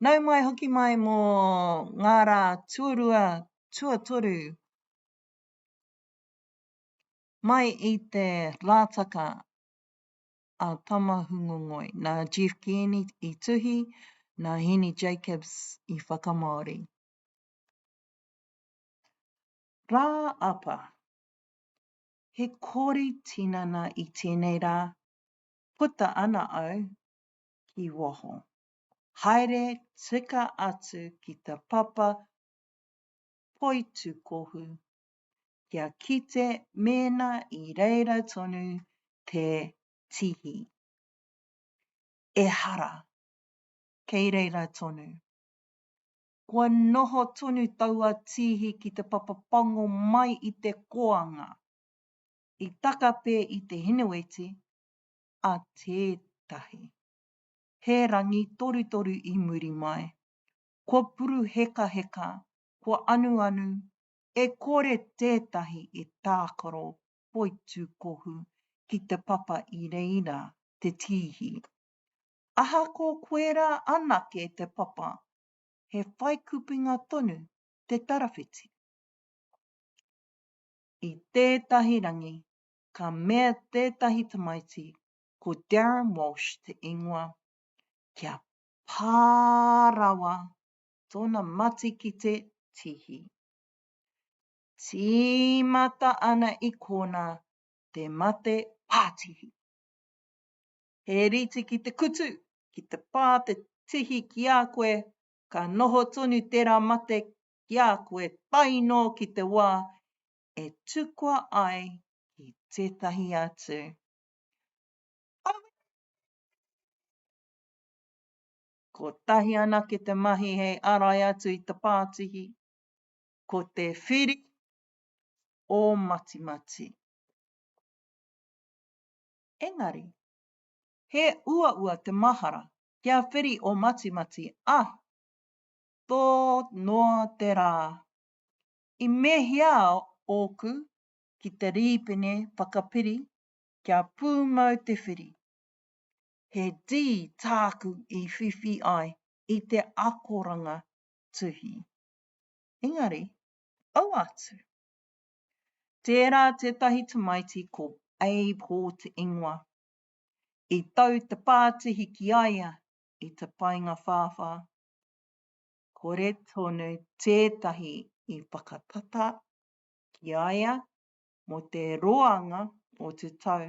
Nau mai hoki mai mō ngā rā tuarua, tuatoru mai i te Lātaka a Tamahungongoi, nā Jeff Kearney i tuhi, nā Heni Jacobs i whakamāori. Rā Apa, He kori tinana i tēnei rā, puta ana au ki waho. Haere tika atu ki te papa poitūkohu kia kite mēnā i reira tonu te tihi. Ehara, kei reira tonu. Kua noho tonu taua tihi ki te papa pango mai i te koanga. i taka pē i te hineweti a tētahi. He rangi torutoru i muri mai. Kua puruhekaheka, kua anuanu, e kore tētahi e tākaro poitūkohu ki te papa i reira te tīhi. Ahako koe rā anake te papa, he whaikupinga tonu te tarawhiti. i tētahi rangi, ka mea tētahi tamaiti, ko Darren Walsh te ingoa, kia pā rawa tōna mati ki te tihi. Tīmata ana i kōna te mate pātihi. He rite ki te kutu, ki te pā te tihi ki a koe, ka noho tonu tērā mate ki a koe tae noa ki te wā e tukua ai ki tētahi atu. Aue! Kotahi anake te mahi hei arai atu i te pātihi, ko te whiri o Matimati. Engari, he uaua te mahara kia whiri o Matimati, ā, tō noa te rā. I mēhia ōku ki te rīpene whakapiri kia pūmau te whiri? He D tāku i whiwhi ai i te akoranga tuhi. Engari, aua atu. Tērā tētahi tamaiti ko Abe Hawte ingoa. I tau te pātihi ki a ia i te paenga whāwhā. kore tonu tētahi i whakatata ki a ia mō te roanga o te tau.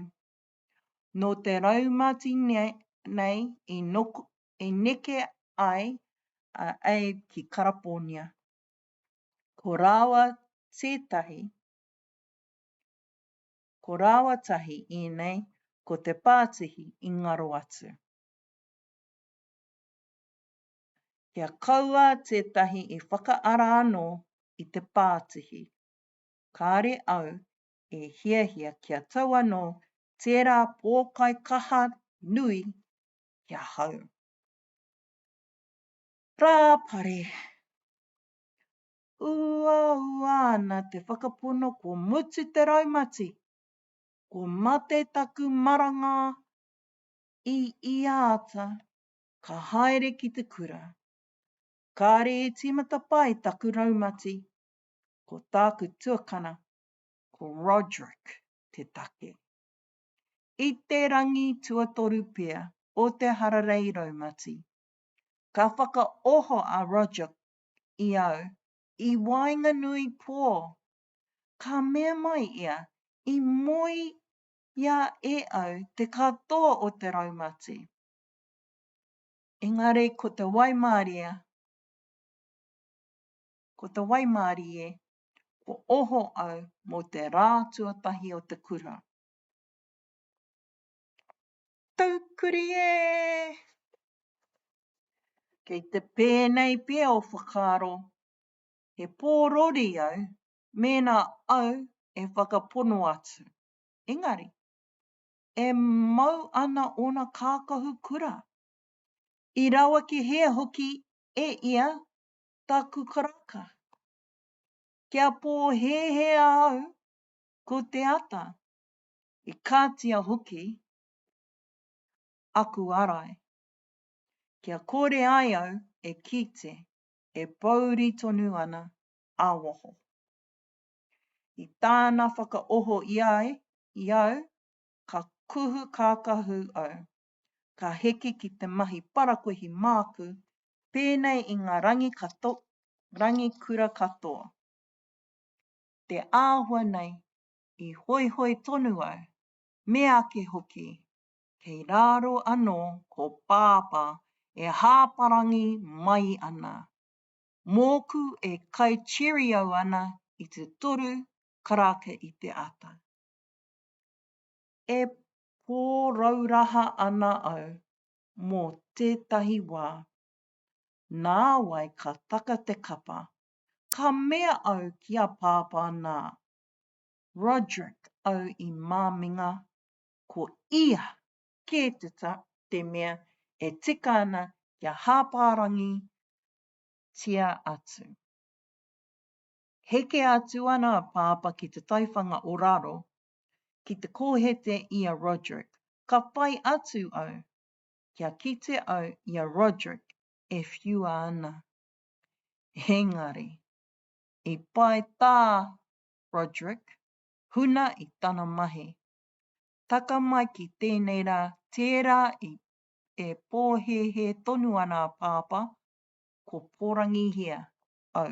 Nō te raumati nei i neke ai a Abe ki Karapōnia. Ko rāua tētahi, ko rāua tahi ēnei ko te pātihi i ngaro atu. Kia kaua tētahi i whakaara anō i te pātihi. Kāre au e hiahia kia tau anō tērā pōkai kaha nui ki ahau. Rāpare. Uaua ana te whakapono kua mutu te raumati, kua mate taku maranga i ia ata ka haere ki te kura. Kāre e tīmata pai taku raumati, ko tāku tuakana, ko Roderick te take. I te rangi tuatoru pea o te hararei raumati, ka whakaoho a Roderick i au i waenganui pō, ka mea mai ia i moe ia e au te katoa o te raumati. Engari ko te waimarie, ko te waimarie, ko oho au mo te ra tuatahi o te kura. Taukuri e! Kei te pēnei pea o whakaaro, he pōrori au mēnā au e whakapono atu. Engari, e mau ana ōna kākahu kura. I rawakehia hoki e ia taku karaka. Kia pōhēhēa au ko te ata, i katia hoki aku arai. Kia kore ai au e kite e pōuri tonu ana ā waho. I tāna whakaoho i a i au, ka kuhu kākahu au. Ka heke ki te mahi parakuihi māku, pēnei i ngā rangi kato, rangi kura katoa. Te āhua nei, i hoihoi tonu au, meake hoki, kei rāro anō ko Pāpā e hāparangi mai ana. Mōku e kai cheerio ana i te toru karaka i te ata. E pōrauraha ana au mō tētahi wā. Nāwai ka taka te kapa, ka mea au ki a Pāpā nā, Roderick au i māminga, ko ia kē te mea e tika ana kia hāpārangi tia atu. Heke atu ana a Pāpā ki te taiwhanga o raro, ki te kōhete i a Roderick. Ka whai atu au, kia kite au i a Roderick e whiua ana. Engari, i pae tā Roderick, huna i tana mahi. Taka mai ki tēnei rā, tērā i E pōhēhē tonu ana a Pāpā, ko Porangihia au.